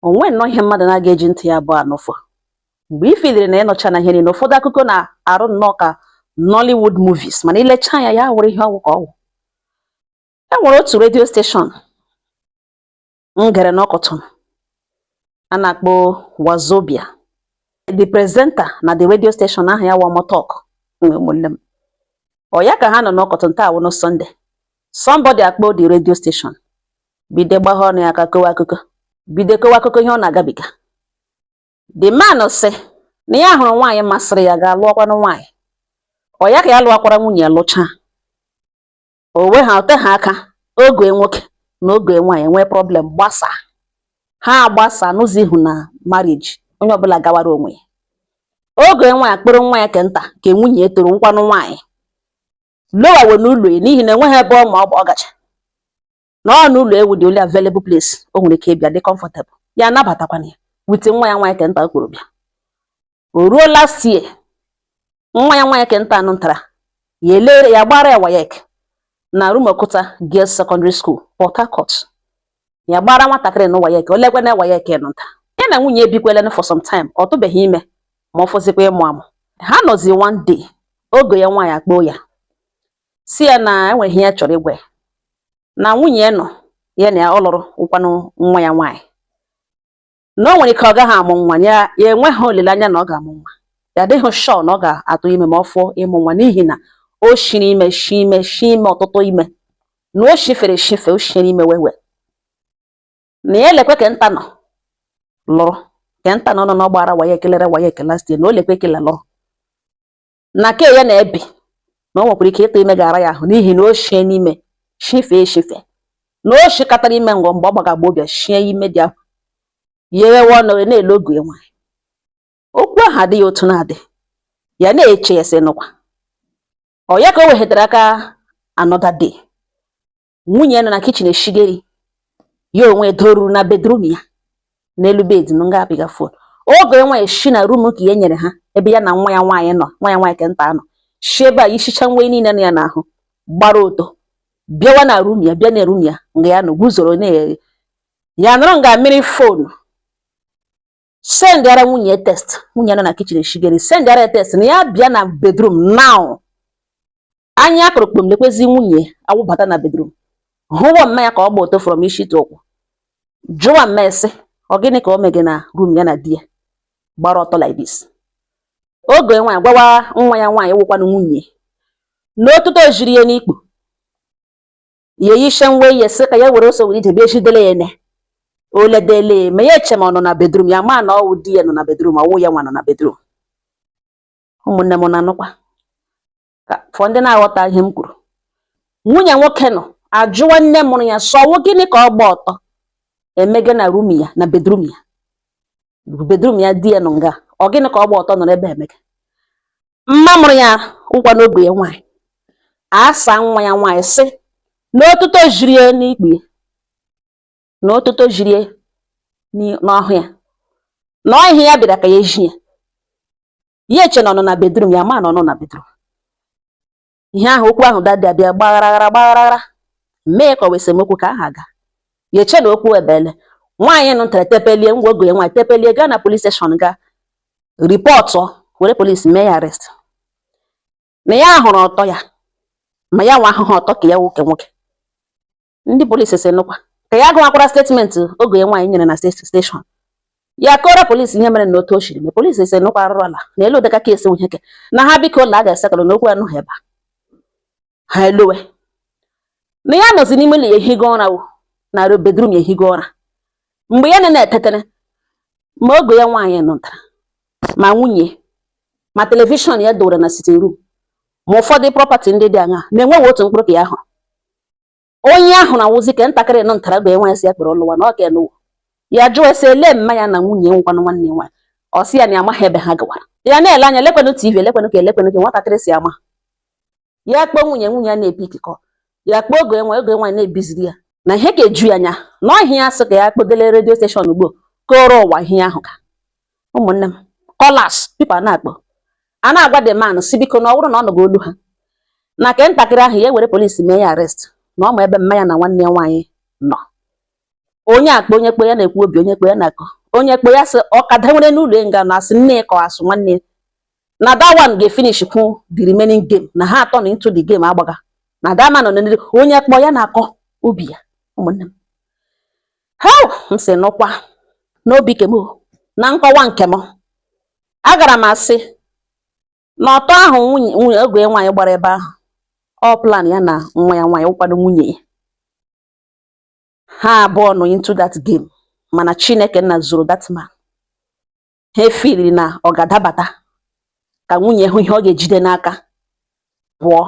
o nwee nnọọ ihe mmadụ na-aga eji ntị ya abụọ anụfụ mgbe ị filiri na ị nụchaana ihe niile ụfọdụ akụkọ na-arụ nnọọ ka Nollywood movies mana i lechaa anya ya wụrụ ihe ọ wụ ka ọ wụ e nwere otu redio steshọn m gere n'ụtụtụ a na-akpọ Wazobia the presenter na the radio station aha ya Wamotok nwe ụmụnne m ọ ya ka ha nọ n'ụtụtụ taa wụnụ Sunday somebody akpọọ the radio station bido gbagha ọnụ ya aka kọwa akụkọ bido kọwa akụkọ ihe ọ na-agabiga the man sị na ya hụrụ nwaanyị masịrị ya gaa lụọkwanụ nwaanyị ọ ya ka ya lụọkwara nwunye lụchaa o we ha o teha aka ọgọ ya nwoke na ọgọ ya nwaanyị nwee problem gbasaa ha agbasaa nọzighị na marriage onye ọbụla gawara onwe ya ọgọ ya nwaanyị akpọrọ nwa ya ke nta ke nwunye tọrọ wụkwanụ nwaanyị lọwawa n'ụlọ ya n'ihi na enweghị ebe ọ ma ọ bụ ọ gacha na ọ n'ụlọ ya wụ the only available place o nwere ike ịbịa dị comfortable ya anabatakwana ya with nwa ya nwaanyị kenta ọ kpọrọ bịa o ruo last year nwa ya nwaanyị kenta anụ ntara ya elere ya gbara ya WAEC na Rumuokuta Girls Secondary School Port Harcourt ya gbara nwatakịrị na WAEC o lekwe na WAEC nụ nta ya na nwunye ebikwelenụ for some time ọ tụbeghị ime ma ọ fọzikwa ịmụ amụ ha nọzi one day ọgọ ya nwaanyị akpọọ ya sị ya na e nwere ihe ya chọrọ ịgwa ya na nwunye ya nọ ya na ya ọ lụrụ wụkwanụ nwa ya nwaanyị na o nwere ike ọ gaghị amụ nwa ya enweghị olileanya na ọ ga-amụ nwa ya adịghị sure na ọ ga-atụ ime ma ọ fọọ ịmụ nwa n'ihi na o shiri ime shi ime shi ime ọtụtụ ime na o shifere shife o shiri ime wewe na ya elekwe kenta nụ lụrụ kenta nụ nọ n'ọ gbaara WAEC ke lere WAEC last year na o lekwe kele lụrụ na ke ya na ya bi na o nwekwara ike ịtụ ime ga-ara ya ahụ n'ihi na o shiene ime shifee eshife na o shikatara ime ngọ mgbe ọ gbaga agbọghọbịa shie ime di ahụ yewe ọnụ na-ele ọgọ ya nwaanyị okwu ahụ adịghị otu na-adị ya na-eche ya sị nụkwa ọ ya ka o weghetara aka another day nwunye nọ na kichin eshige iri ya onwe doruru na bedrum ya n'elu bed nụ nga apịga fon ọgọ ya nwaanyị shi na rum ke ya nyere ha ebe ya na nwa ya nwaanyị nọ nwa ya nwaanyị kenta nọ shi ebe a yishicha nwe niile nọ ya n'ahụ gbara ọtọ bịawa na rum ya bịa na rum ya nga ya nọ guzoro na ya nọrọ nga mịrị fon sendịara nwunye ya text nwunye nọ na kichin eshige iri sendịara ya text na ya bịa na bedrum now anya akụrụ kpom lekwezi nwunye awụbata na bedrum hụwa mma ya ka ọ gba ọtọ from isi to ụkwụ jụwa mma ya sị ọ gịnị ka o mege na rum ya na di ya gbara ọtọ like this ọgọ ya nwaanyị gwawa nwa ya nwaanyị wụkwanụ nwunye n'otuto jiri ya n'ikpu ya eyisha nwe ya sị ka ya were ọsọ were ije bịa ejidele ya ene oledele ma ya eche ma ọ nọ na bedrum ya ma na ọwụ di ya nọ na bedrum ọwụ ya nwa nọ na bedrum ụmụnne m na-anụkwa ka fọ ndị na-aghọta ihe m kwuru nwunye nwoke nọ ajụwa nne mụrụ ya sị ọ wụ gịnị ka ọ gba ọtọ emege na rum ya na bedrum ya bedrum ya di ya nọ nga ọ gịnị ka ọ gba ọtọ nọrọ ebe emege mma mụrụ ya wụkwanụ ọgọ ya nwaanyị asa nwa ya nwaanyị sị na otuto jiri ya n'ikpu na otuto jiri ya n'ọhụ ya na ọ ihe ya bịara ka ya ezi ya ya eche na ọ nọ na bedrum ya ma na ọ nọ na bedrum ihe ahụ okwu ahụ dadị abịa gbagharaghara gbagharaghara mee ka ọ wụ esemokwu ka aha ga ya eche na okwu ebele nwaanyị nụ ntara tepelie ngwa ọgọ ya nwaanyị tepelie gaa na polis steshọn gaa ripọtụ were polisi mee ya arest na ya hụrụ ọtọ ya ma ya nwa ahụhụ ọtọ ke ya nwoke nwoke ndị polisi sị nụkwa ka ya gụwakwara statement ọgọ ya nwaanyị nyere na steshọn ya kọrọ polisi ihe mere na otu o siri mee polisi sị nụkwa arụrụala na elu ụdịka kesi nweheke na ha biko ụlọ a ga-esekọrọ n'okwu anụ ha ebe a ha elowe na ya nọzi n'ime ụlọ ya ehigo ụra wo na bedrum ya ehigo ụra mgbe ya na-etetere ma ọgọ ya nwaanyị nụtara ma nwunye ma telivishọn ya dowere na sitin rum ma ụfọdụ prọpati ndị dị aṅa na-enweghị otu mkpụrụ ka ya hụrụ onye ahụ na-awụzi ke ntakịrị nọ ntara ọgọ nwaanyị sị ya kpere ọlụwa na ọ ka enụwa ya jụọ ya sị ele mma ya na nwunye wụkwanụ nwanne ya nwaanyị ọ sị ya na amaghị ebe ha gawara ya na-ele anya lekwenụ tv elekwenụ ka elekwenụ ka nwatakịrị sị ama ya kpọọ nwunye nwunye ya na-epiki kọl ya kpọọ ọgọ nwaanyị ọgọ nwaanyị na-ebiziri ya na ihe ka eju ya anya na ọ ihe ya sị ka ya kpọdele redio steshọn ugbo kọrọ ụwa ihe ahụ ka ụmụnne m kọlas pipo a na-akpọ a na-agwa the man sị biko na ọ bụrụ na ọ nụgo olu ha na ke ntakịrị ahụ ya ewere polisi mee ya arest na ọ ma ebe mma ya na nwanne ya nwaanyị nọ onye akpa onye kpọ ya na-ekwu obi onye kpọ ya na-akọ onye kpọ ya sị ọkada nwere n'ụlọ nga na asị nne kọ asụ nwanne na that one ga-efinish kwu the remaining game na ha atọ nọ into the game agbaga na that man nọ n'eriri onye kpọ ya na-akọ obi ya ụmụnne m ha m sị nụkwa n'obi ke m na nkọwa nke m agara m asị na ọtọ ahụ nwunye ọgọ nwaanyị gbara ebe ahụ ọ plan ya na nwa ya nwaanyị wụkwanụ nwunye ya ha abụọ nọ into that game mana Chineke nna zọrọ that man ha efiri na ọ ga-adabata ka nwunye hụ ihe ọ ga-ejide n'aka pụọ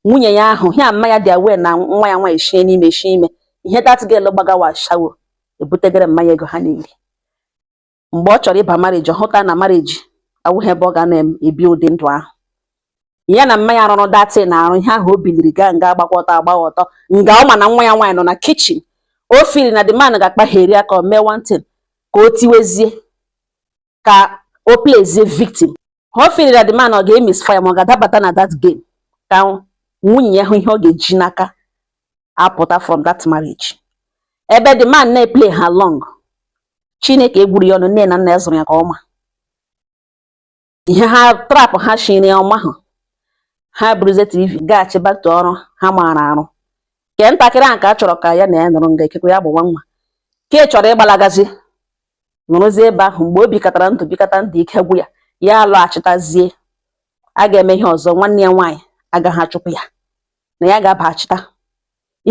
nwunye ya ahụ ya mma ya dị aware na nwa ya nwaanyị shie n'ime shie ime ihe dat gel gbagawa ashawo ebutegere mma ya ego ha na-eri mgbe ọ chọrọ ịba mariji ọ hụta na mariji awụghị ebe ọ ga na-ebi ụdị ndụ ahụ ya na mma ya rụrụ datị na arụ ihe ahụ o biliri gaa nga agbakọta agba ọtọ nga ọ ma na nwa ya nwaanyị nọ na kichin o fili na the man ga-akpagheri aka mee one thing ka o tiwezie ka o plezie victim o fili na the man ọ ga-emisfire ma ọ ga-adabata na that game ka nwunye ya hụ ihe ọ ga-eji n'aka apụta from that marriage ebe the man na-eple along chineke egwuru ya ọnụ nne na nna ya zụrụ ya ka ọma ihe ha trap ha shiri ọ mahụ ha buruzie tv gaghachi back to ọrụ ha maara arụ ke ntakịrị ahụ ka a chọrọ ka ya na ya nọrọ nga ekekwe ya bụ nwa nwoke chọrọ ịgbalagazi nọrọzie ebe ahụ mgbe o bikọtara ndụ bikọta ndụ ike gwụ ya ya alọghachitazie a ga-eme ihe ọzọ nwanne ya nwaanyị agaghị achụpụ ya na ya ga-abaghachita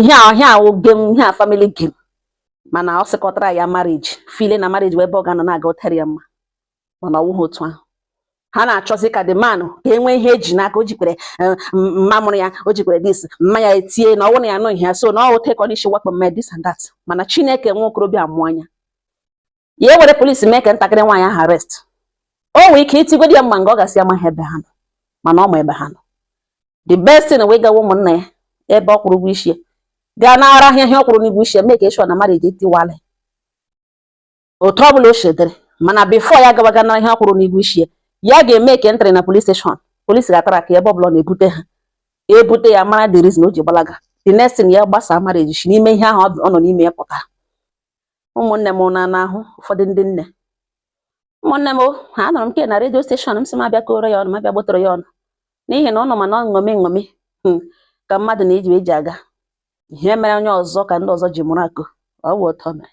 ihe a ihe a wụ game ihe a family game mana ọ sịkọtara ya marriage file na marriage wụ ebe ọ ga-anọ na-aga ụtara ya mma mana ọwụghị otu ahụ ha na-achọzi ka the man ka e nwee ihe eji n'aka o jikwere eh, mma mụrụ ya o jikwere this mma ya etie na ọwụ na ya nụghị ya so na ọwụ take on issue wakpo mma this and that mana chineke nwa okorobịa mụọ anya ya ewere polisi mee ke ntakịrị nwaanyị ahụ arrest o nwee ike itigodi ya mma nga ọ gasị amaghị ebe ha nọ mana ọ ma ebe ha nọ the best thing wee gawa ụmụnna ya ebe ọ kwụrụ ụgwọ isi ya gaa nara ha ihe ọ kwụrụ n'ụgwọ isi ya mee ka e show na marriage etiwala otu ọ bụla o shi dịrị mana before ya gabaga nara ihe ọ kwụrụ n'ụgwọ isi ya ya ga-emeke entry na polis steshọn polis ga-atraka ebe ọbụla na-ebute ha ebute ya mara the reason o ji gbalaga the next thing ya gbasa marriage shi n'ime ihe ahụ ọ nọ n'ime ya pụta ụmụnne m na-ahụ ụfọdụ ndị nne ụmụnne m ha anọrọ m ke na redio steshọn m sị m abịa kọọrọ ya ụnụ m abịa gbotoro ya ụnụ n'ihi na ọ nọ ma na nṅomi nṅomi hmm, ka mmadụ na-eji eji aga ihe mere onye ọzọ ka ndị ọzọ ji mụrụ akọ ọ bụ ụtọ mere